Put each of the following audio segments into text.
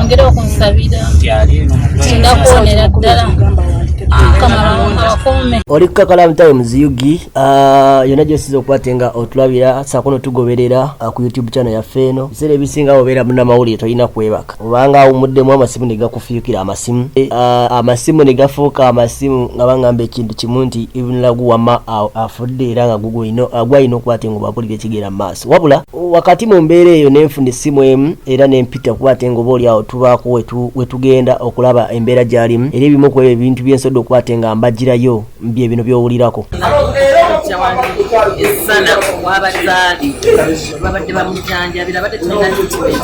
ongera okunsabira ndakuwonera ddala oli kukakalamu times ug ah, yona gyosiza okukwate nga otulabira sakuno tugoberera ah, ku youtube channel yaffe eno biseera ebisinga obeera munamawulire tolina kwebaka obanga awumuddemu amasimu negakufuyukira amasimu eh, ah, amasimu negafuuka amasimu nga bangamba ekintu kimu nti ibnlagu wama afudde era nga gugwalina okukwate nga obabulira ekigera mu maaso wabula wakati mu mbeera eyo nenfuna essimu emu era nempita kuba ate nga oba olyawo tubaako wetugenda okulaba embeera gyalimu era ebimu ku ebyo ebintu byensobodde okuba ate nga mbagirayo bye bino byowulirako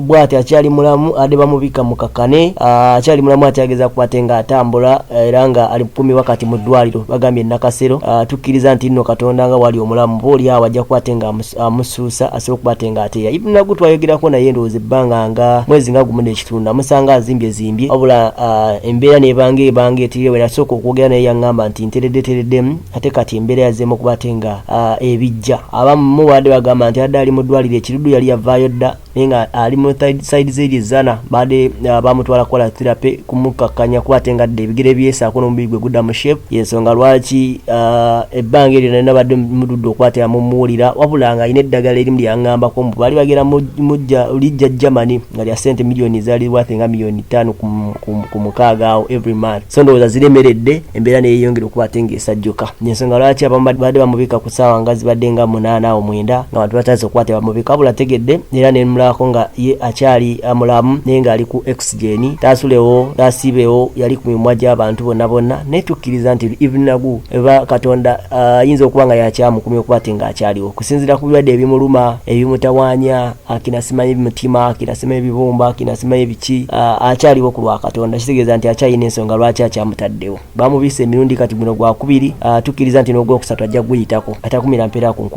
bwati akyali mulamu ade bamubika mukakane ah, akyali mulamu akyageza kubate nga atambula eh, era nga ali kumi wakati mu ddwaliro bagambye nakasero ah, tukkiriza nti nno katonda nga wali omulamu ba oli awo ajja kubate nga amusuusa asobola okubate nga ateya ibn nagu twayogerako naye ndowooza ebbanga nga mwezi nga gumu nekitundu namusanga azimbye zimbye wabula ah, embeera nebanga ebanga etirire wenasooka okwogera naye yaŋŋamba nti nteredde tereddemu ate kati embeera yazeemu okubate nga ebijja abamu baadde bagamba nti adde ali mu ddwaliro ekirudu yali yavaayo dda naye nga ali mu side zeri zana bade uh, bamutwala kola therapy kumukakanya kuba ate ngadde ebigere byesaako n'omubiri gwe gudda mu shape yensonga lwaki uh, ebbanga eryo nalina badde mududde okwatera mumuwulira wabula nga alina eddagala erimu lyangambako mbu baali bagera mujja lijja germany nga lya sente miliyoni zali wate nga miliyoni ttaano ku mukaaga awo every month so ndowooza ziremeredde embeera neyeyongera okuba ate ng'esajjuka yensonga lwaki abamu badde bamubika ku ssaawa nga zibadde nga munaana awo mwenda nga bantu batandise okuba tebamubika wabula ategedde era nemulako nga ye akyali mulamu naye ng'ali ku oxygeni taasulewo taasiibewo yali ku mimwa gy'abantu bonna bonna naye tukkiriza nti ibnagu eba katonda ayinza uh, okuba nga yakyamukumya okuba ate ng'akyaliwo kusinzira ku birwadde ebimuluma ebimutawanya akina simanyi mutima akina simanyi bibumba akina simanyi biki akyaliwo ku lwa katonda kitegeeza nti akyalina ensonga lwaki akyamutaddewo bamubisa emirundi kati guno gwakubiri tukkiriza nti n'ogwokusatu ajja kuguyitako atakumira mpeera ku nkulu